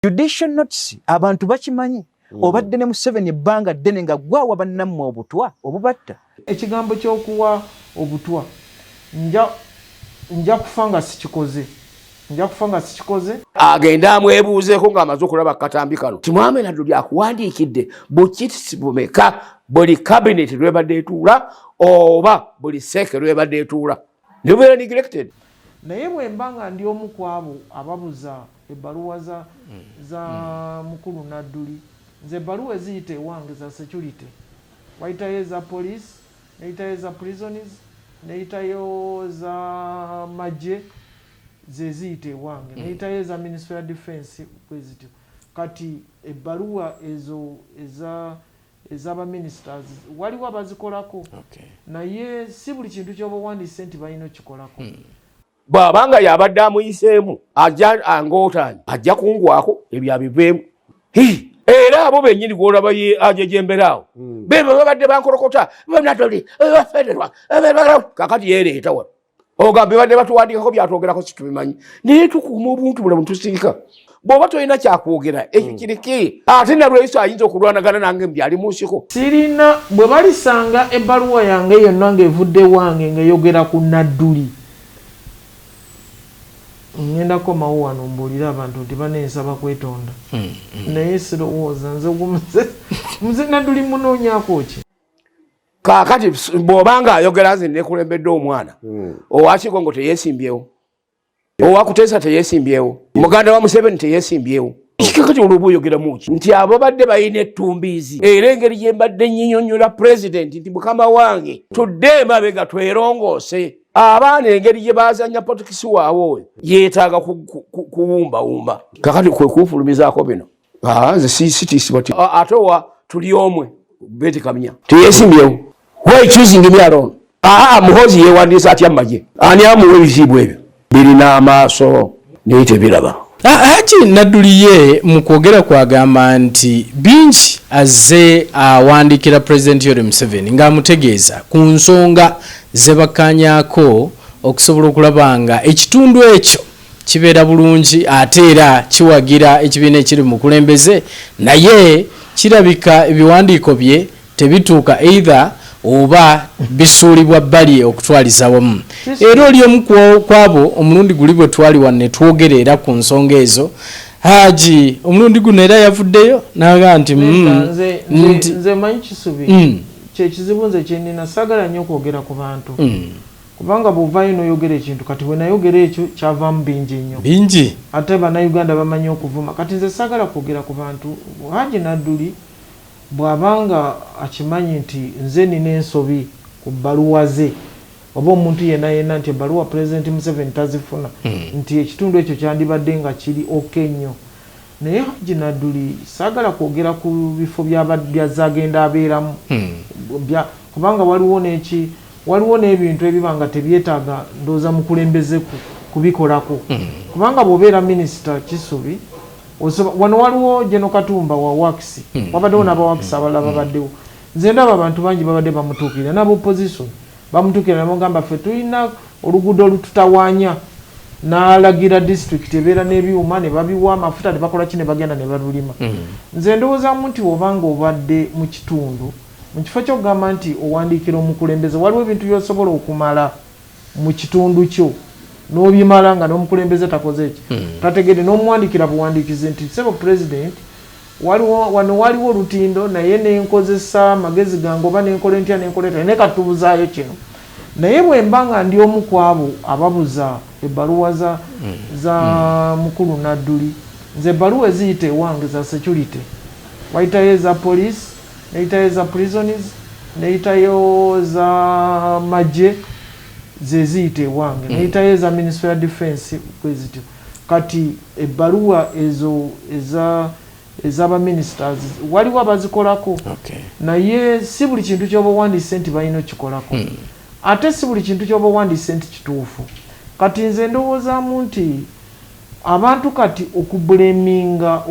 judicial notes abantu bakimanyi mm. obadde ne museveni ebbanga ddene nga gwawa bannammwe obutwa obubatta ekigambo kyokuwa obutwa nja nja kufa nga sikikoze nja kufa nga sikikoze agende amwebuuzeeko ng'amaze okulaba katambi kano timwame naddo byakuwandiikidde bukitisi bumeka buli kabineeti lwebadde etuula oba buli seeke lwebadde etuula nebubeera neglected naye bwemba nga ndi omu kwabo ababuza ebbaluwa za, mm. za mm. mukulu nadduli nze ebbaluwa eziyita ewange za security wayitayo eza police neyitayo eza prisons neyitayo za magye zeziyita ewange mm. neyitayo eza ministry ya defense bwezityo kati ebbaluwa ezo eza ezaba ministers waliwo abazikolako okay. naye si buli kintu kyoba owandiise nti balina okikolako hmm. bwabanga yabadde amuyiseemu angootanye ajja kungwako ebyo abiveemu era abo benyini gwolaba ye ajejemberaawo hmm. bebe babadde bankolokota benatoli bafederwa kakati yereeta wano oga bibadde batuwandiikako byatwogerako situbimanyi naye tukuuma obuntu bulamu tusiika bwoba tolina kyakwogera ekyo hmm. kiriki ate nalweyiso ayinza okulwanagana nange mbyali munsiko sirina bwe balisanga ebbaluwa yange yonna ngaevudde wange ngaeyogera ku nadduli ngenda komawo wano mbuulire abantu nti banensaba kwetonda hmm, hmm. naye sirowooza nze ogumuze muze nadduli munoonyako ki kakati bwoba nga ayogera nze nekulembedde omwana hmm. owakigo ngo teyesimbyewo owakuteesa teyesimbyewo muganda wa museveni teyesimbyewo kikakati olwoba oyogeramu ki nti abo badde balina ettumbiizi era engeri gye mbadde nyinyonyola pulezidenti nti mukama wange tudde emabega twerongoose abaana engeri gye bazanya potikisi waabwe oyo yeetaaga kuwumbawumba kakati kwe kunfulumizaako bino ah, nze sitiisibwa ah, ate owa tuli omwe beti kamya teyesimbyewo why choosing me alone aha muhozi yewandiisa atya mumagye ani amuwa ebiziibwa ebyo birina amaaso naye tebiraba ah, haji nadduliye mu kwogera kwagamba nti bingi azze awandiikira pulezidenti yori museveni ng'amutegeeza ku nsonga zebakanyako okusobola okulaba nga ekitundu ekyo kibeera bulungi ate era kiwagira ekibiina ekiri mukulembeze naye kirabika ebiwandiiko bye tebituuka either oba bisuulibwa bbali okutwaliza wamu era oli omu kwabo omulundi guli bwe twali wano ne twogera era ku nsonga ezo haji omulundi guno era yavuddeyo naga nti mm, nze manyi kisubi mm. kyekizibu nze kyenina sagala nyo okwogera ku bantu mm. Kubanga bwovayo noyogera ekintu kati wenayogera ekyo kyavamu binji nnyo binji. Ate banauganda bamanyi okuvuma kati nze sagala kwogera kubantu Hajji Nadduli bwaba nga akimanyi nti nze nina ensobi ku bbaluwa ze oba omuntu yena yena nti ebbaluwa president Museveni tazifuna nti ekitundu ekyo kyandibadde nga kiri ok nnyo Naye Hajji Nadduli saagala kwogera ku bifo by'azze agenda abeeramu kubanga waliwo n'eki, waliwo n'ebintu ebiba nga tebyetaaga ndowooza mukulembeze kubikolako kubanga bw'obeera minisita Kisubi osobola, wano waliwo General Katumba wa Works, wabaddewo n'aba Works abalala babaddewo, nze ndaba abantu bangi babadde bamutuukirira n'aba Opposition Bamutukira ne bamugamba ffe tulina oluguudo olututawaanya n'alagira disitulikiti ebeera n'ebyuma ne babiwa amafuta ne bakola ki ne bagenda ne balulima. Hmm. Nze ndowoozamu nti oba ng'obadde mu kitundu mu kifo ky'okugamba nti owandiikira omukulembeze waliwo ebintu by'osobola okumala mu kitundu kyo n'obimala nga n'omukulembeze takoze ki hmm. tategedde n'omuwandiikira buwandiikizi nti sebo pulezidenti Waliwo, wano waaliwo olutindo, naye ne nkozesa magezi gange, oba ne nkola ntya, ne nkola etya, naye kati tubuzaayo kino. Naye bwe mba nga ndi omu ku abo ababuza ebbaluwa za, za Mukulu Nadduli, nze ebbaluwa eziyita ewange za security. Wayitayo eza poliisi, neyitayo eza prisons, neyitayo eza magye, ze ziyita ewange. Neyitayo eza Minisitule ya Defence, bwe zityo. Kati ebbaluwa ezo eza eza ba ministers waliwo abazikolako okay. Naye si buli kintu kyoba owandiise nti balina okikolako hmm. Ate si buli kintu kyoba owandiise nti kituufu. Kati nze ndowoozaamu nti abantu kati okubuleminga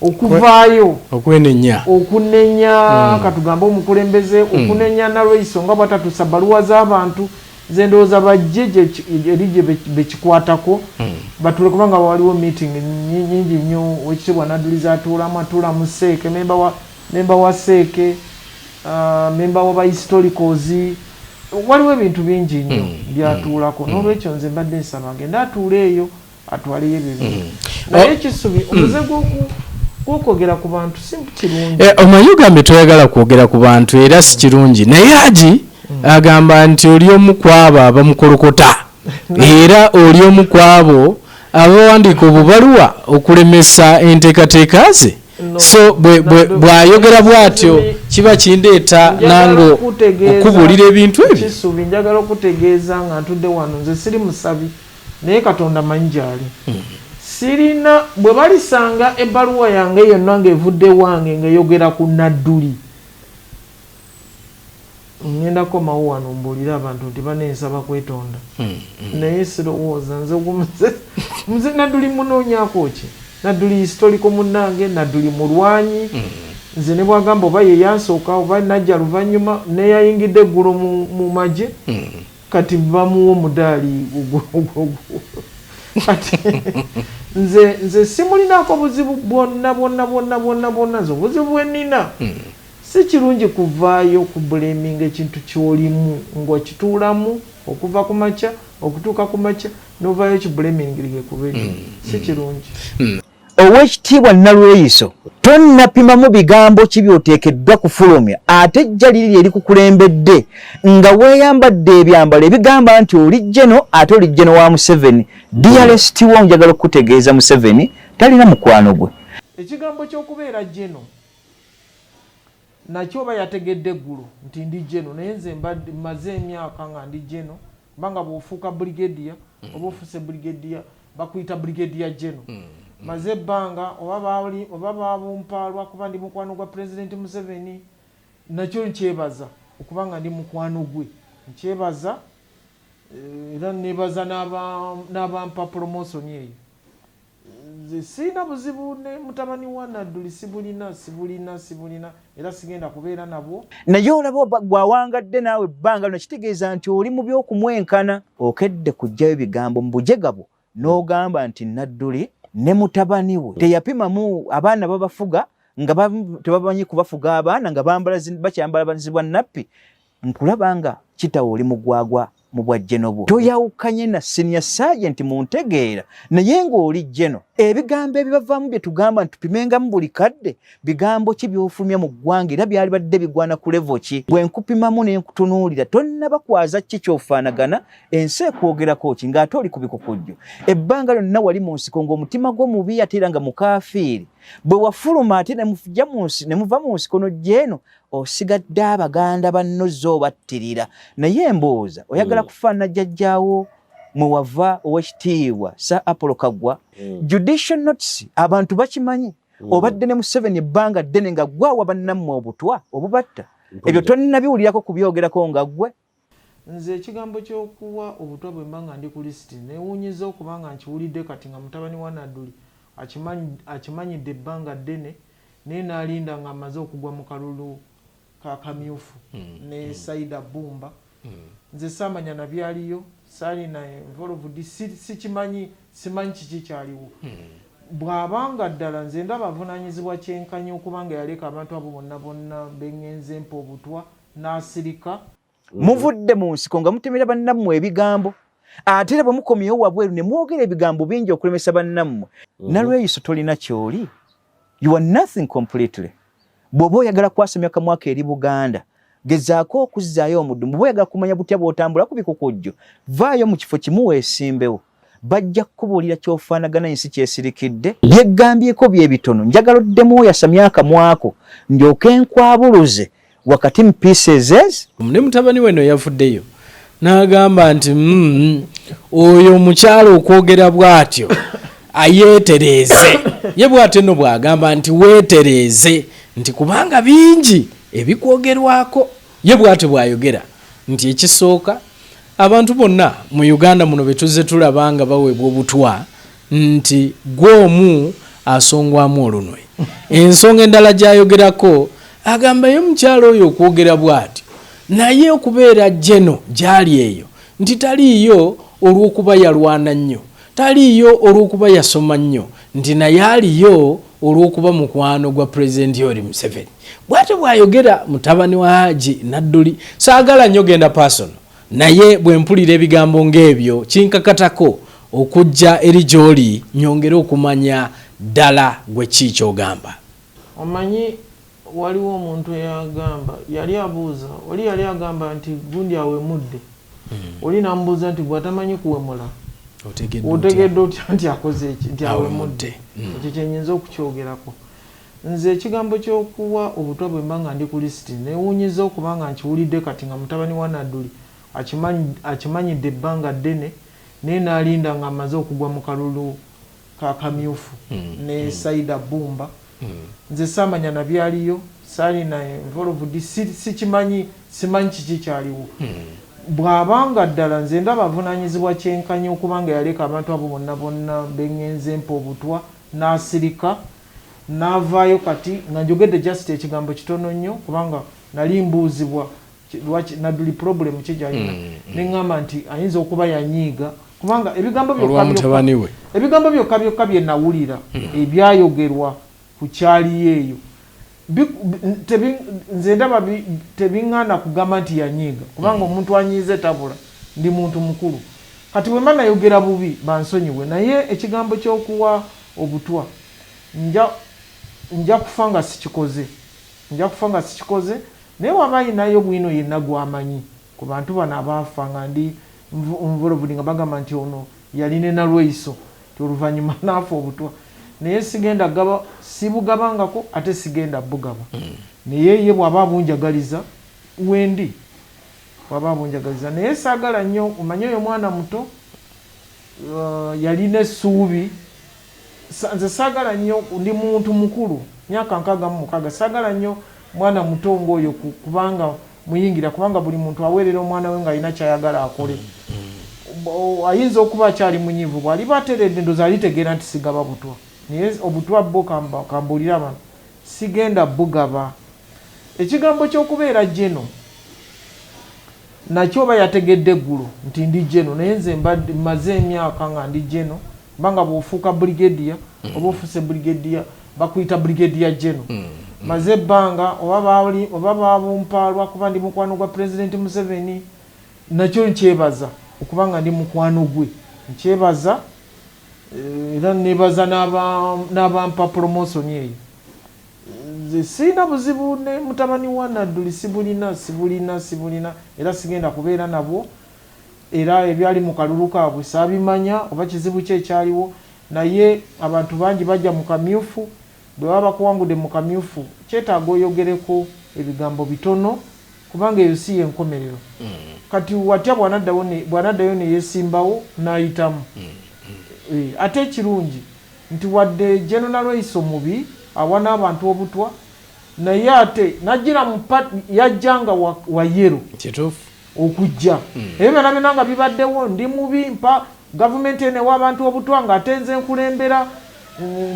okuvaayo okwenenya okunenya hmm. katugambe omukulembeze hmm. okunenya nalweiso nga bwatatusa baluwa z'abantu Nze ndowooza bajje eri bekikwatako batule kubanga waliwo meeting nyingi nnyo wekitibwa Nadulizi atuulamu atuulamu seeke memba wa memba wa seeke uh, memba wa bahistoricals waliwo ebintu bingi nnyo mm. byatuulako mm. nolwekyo nze mbadde nsaba agende atuule eyo atwaleyo ebyo bintu mm. naye ekisubi oh. omuze mm. gwoku okwogera ku bantu si kirungi eh, omanyi ogambye toyagala kwogera ku bantu era si kirungi naye agi mm. agamba nti oli omu kwabo abamukolokota era oli omu kwabo abawandiika obubaluwa okulemesa enteekateeka ze so bwayogera bwatyo kiba kindeeta nange okubuulira ebintu ebyo njagala okutegeeza nga ntudde wano nze siri musabi naye Katonda mmanyi gy'ali. Sirina, bwe balisanga ebbaluwa yange yonna ng'evudde ewange ng'eyogera ku Nadduli, ŋŋenda kukomawo wano mbuulire abantu nti banne nsaba kwetonda. Naye sirowooza nze gumu nze Nadduli mmunoonyaako ki? Nadduli yisitoliko munnange, Nadduli mulwanyi. Nze ne bw'agamba oba ye yansooka oba najja luvannyuma, n'eyayingidde eggulo mu magye, Kati bamuwa omudaali ogwo. Kati nze nze simulinako buzibu bwonna bwonna bwonna bwonna bwonna nze obuzibu bwenina hmm. si kirungi kuvaayo ku buleminga ekintu kyolimu ng'okituulamu okuva ku makya okutuuka ku makya novayo kibulemingirie kuba ekyo hmm. si kirungi hmm. Owekitiibwa Nalweyiso tonnapimamu bigambo ki byoteekeddwa kufulumya ate ejja liri lye likukulembedde nga weeyambadde ebyambalo ebigamba nti oli jeno ate oli jeno wa Museveni. Dearest wo njagala okukutegeeza Museveni talina mukwano gwe. Ekigambo ky'okubeera jeno nakyo oba yategedde eggulo nti ndi jeno naye nze mmaze emyaka nga ndi jeno. kubanga bwofuuka brigadier mm. oba ofuse brigadier bakuyita brigadier general mm. mm. maze ebbanga oba baali oba babumpaalwa kuba ndi mukwano gwa president museveni nakyo nkyebaza okuba nga ndi mukwano gwe nkyebaza eh, era nebaza n'abampa promotion eyo nze sirina buzibu ne mutabani wa nadduli sibulina sibulina sibulina era sigenda kubeera nabwo naye olaba gwawangadde naawe ebbanga lino kitegeeza nti oli mu byokumwenkana okedde kujjayo bigambo mu bujega bwo n'ogamba nti nadduli ne mutabani we teyapimamu abaana babafuga nga tebamanyi kubafuga abaana nga bakyambala banzibwa nappi nkulaba nga kitawo oli mugwagwa mu bwa jeno bwo toyawukanye na sinia sajenti mu ntegeera naye ng'oli jeno ebigambo ebibavaamu bye tugamba nti tupimengamu buli kadde bigambo ki byofulumya mu ggwanga era byali badde bigwana ku levo ki bwe nkupimamu ne nkutunuulira tonnaba kwaza ki kyofaanagana ensi ekwogerako ki ng'ate oli ku bikukujju ebbanga lyonna wali mu nsiko ng'omutima gwo mubi ate era nga mukaafiiri bwe wafuluma ate ne muva mu nsiko no jeno osigadde abaganda banno zo battirira naye embooza oyagala mm. kufaana jjajjaawo mwewava owekitiibwa sa apollo kagwa mm. judicial notes abantu bakimanyi mm. obadde ne museveni ebbanga ddene nga gwawa bannammwe obutwa obubatta ebyo tonnabiwulirako kubyogerako nga ggwe Nze ekigambo kyokuwa obutwa bwemba nga ndi ku list newunyiza okuba nga nkiwulidde kati nga mutabani wa Naduli akimanyidde ebbanga ddene naye nalinda nga amaze okugwa mu kalulu ka kamyufu ne Saida Bbumba nze samanya nabyaliyo salina involved sikimanyi simanyi kiki kyaliwo bwaba nga ddala nze ndaba avunanyizibwa kyenkanyi okuba nga yaleka abantu abo bonna bonna bengenze mpa obutwa n'asirika muvudde mu nsiko nga mutemera bannammwe ebigambo ate era bwe mukomyewo wabweru ne mwogera ebigambo bingi okulemesa bannammwe mhm. nalweyiso tolina kyoli you are nothing completely bw'oba oyagala kwasamya kamwaka eri buganda gezaako okuzzaayo omudumu bw'oyagala kumanya butya bw'otambula ku bikukujjo vaayo mu kifo kimu weesimbewo bajja kukubuulira kyofaanagana ensi kyesirikidde byeggambyeko byebitono njagala oddemu oyasamya akamwako ndyoke nkwabuluze wakati mu pieces ez ne mutabani we no yavuddeyo n'agamba nti mm, oyo omukyala okwogera bw'atyo ayeetereeze ye bw'atyo no bw'agamba nti weetereeze nti kubanga bingi ebikwogerwako Ye bwatyo bwayogera nti ekisooka abantu bonna mu Uganda muno betuzze tulaba nga baweebwa obutwa nti gwe omu asongwamu olunwe. Ensonga endala gyayogerako agamba ye mukyala oyo okwogera bwatyo naye okubeera Geno gyali eyo nti taliiyo olwokuba yalwana nnyo, taliiyo olwokuba yasoma nnyo nti naye aliyo olwokuba mukwano gwa president yori museveni bwatyo bwayogera mutabani wa haji nadduli saagala nnyo genda pasono naye bwe mpulira ebigambo ng'ebyo kinkakatako okujja eri gy'oli nyongere okumanya ddala gwe ki kyogamba omanyi Waliwo omuntu eyagamba, yali abuuza, oli yali agamba nti gundi awemudde, oli namubuuza nti gwe atamanyi kuwemula otegedde otya nti akoze ki, nti awemudde? Ekyo kyenyinza okukyogerako. Nze ekigambo kyokuwa obutwa bwemba nga ndi ku lisiti, newunyiza okuba nga nkiwulidde kati nga mutabani wa Nadduli akimanyidde ebbanga ddene, naye nalinda nga amaze okugwa mu kalulu ka kamyufu ne Saida Bbumba nze saamanya na byaliyo saalina involved si, sikimanyi simanyi kiki kyaliwo bw'aba nga ddala nze ndaba avunaanyizibwa kyenkanyi okuba nga yaleka abantu abo bonna bonna be ŋŋenze mpa obutwa n'asirika n'avaayo kati nga njogedde just ekigambo kitono nnyo kubanga nali mbuuzibwa lwaki naduli problem ki gyalina mm, mm. neŋŋamba nti ayinza okuba yanyiiga kubanga ebigambo byokkabyokka ebigambo byokka byokka bye nawulira mm. ebyayogerwa ku kyaliyo eyo nze ndaba tebiŋŋaana kugamba nti yanyiiga kubanga omuntu anyiize tabula ndi muntu mukulu kati bwe mba nayogera bubi bansonyiwe naye ekigambo ky'okuwa obutwa nja kufa nga sikikoze nja kufa nga sikikoze Naye wama ayinayo bwino yenna gwamanyi kubantu bano abaafa nga ndi nvolved nga bagamba nti ono yali ne Nalweyiso nti oluvanyuma naafa obutwa naye sigenda gaba sibugabangako ate sigenda bugaba naye ye bwaba abunjagaliza wendi bwaba abunjagaliza naye sagala nyo omanyi oyo mwana muto yalina esuubi Nze sagala nyo ndi muntu mukulu myaka nkaaga mu mukaga sagala nyo mwana muto nga oyo kubanga muyingira kubanga buli muntu awerera omwana we nga alina kyayagala akole ayinza okuba akyali munyivu bwaliba ateredde ndoza alitegeera nti sigaba butwa naye obutwa bo kambulira bano sigenda bugaba ekigambo kyokubeera jeno Naki oba yategedde gulu nti ndi Geno naye nze mbadde maze emyaka nga ndi Geno mba nga bwofuuka Brigadier mm. oba ofuse Brigadier bakuyita Brigadier Geno mm. mm. maze ebbanga oba baali oba babumpaalwa kuba ndi mukwano gwa President Museveni nakyo nkyebaza okuba nga ndi mukwano gwe nkyebaza eh, era nebaza n'abampa promotion eyo Nze sirina buzibu ne mutabani wa Nadduli sibulina, sibulina, sibulina era sigenda kubeera nabwo era ebyali mu kalulu kaabwe saabimanya oba kizibu ki ekyaliwo naye abantu bangi bagya mu kamyufu, bwe baba bakuwangudde mu kamyufu kyetaaga oyogereko ebigambo bitono kubanga eyo si y'enkomerero. Kati watya bw'anaddawo ne, bw'anaddayo ne yeesimbawo n'ayitamu? Ate ekirungi. nti wadde Gen Nalweyiso mubi, awa n'abantu obutwa naye ate najjira mu part yajja nga wa wa yellow Kituufu. okujja ebyo byona byona nga bibaddewo ndi mubi mpa gavumenti eno ewa abantu obutwa nga ate nze nkulembera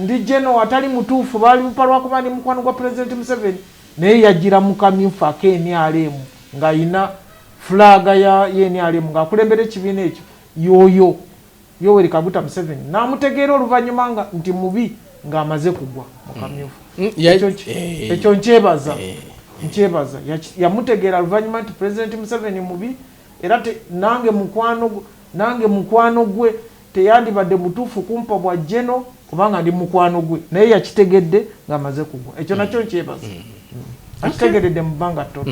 ndi General atali mutuufu balimpa lwakuba ndi mukwano gwa Pulezidenti Museveni naye yajjira mu kamyufu ake nrm nga ayina flag ya nrm nga akulembera ekibiina ekyo yoyo Yoweri Kaguta Museveni n'amutegeera oluvannyuma nga nti mubi ng'amaze kugwa mu kamyufu. Mm, ya- Ekyo ki- eh. Ekyo nkyebaza nkyebaza Yaki- yamutegeera luvannyuma nti Pulezidenti Museveni mubi era te- nange mukwano gw- nange mukwano gwe teyandibadde mutuufu kumpa bwa Geno kubanga ndi mukwano gwe naye yakitegedde ng'amaze kugwa ekyo nakyo nkyebaza akitegeredde mu bbanga ttono.